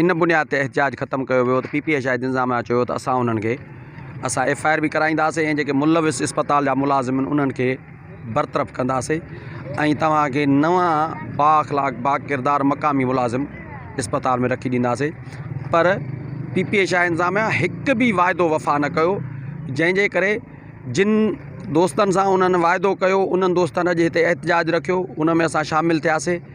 ان بنياد تي احتجاج ختم ڪيو ويو ته پي پي اي شاهد انظاميا چيو ته اسان انهن کي اسان ايف آء آر به ڪرائينداسين ۽ جيڪي ملوث اسپتال جا ملازم آهن انهن کي برطرف ڪنداسين ۽ توهان کي نوان بااخلاق باڪردار مقامي ملازم اسپتال ۾ رکي ڏينداسين پر پي پي اي شاهد انظاميا هڪ به واعدو وفا نه ڪيو جنهن جي ڪري جن دوستن سان انهن واعدو ڪيو انهن دوستن اڄ هتي احتجاج رکيو ان ۾ اسان شامل ٿياسين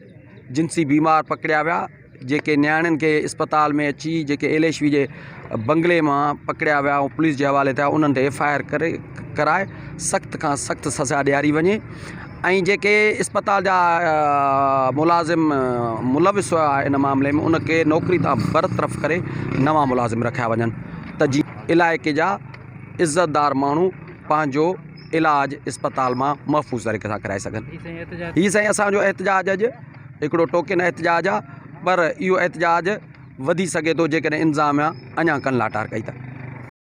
جنسي بيمار پڪڙيا ويا جيڪي نياڻين کي اسپتال ۾ اچي جيڪي ايليشوي جي بنگلي مان پڪڙيا ويا ۽ پوليس جي حوالي ٿيا انهن تي ايف آء آر ڪري ڪرائي سخت کان سخت سزا ڏياري وڃي ۽ جيڪي اسپتال جا ملازم ملوث هيا ان معاملي ۾ ان کي نوڪري تان برطرف ڪري نوان ملازم رکيا وڃن ته جي علائقي جا عزتدار ماڻهو پنهنجو علاج اسپتال مان محفوظ طريقي سان ڪرائي سگهن. هي سائين اسان جو احتجاج اڄ هڪڙو ٽوڪن احتجاج آ پر اهو احتجاج وڌي سگهي ٿو جيڪڏهن انتظاميا اڃا ڪن لاٽار ڪئي ته.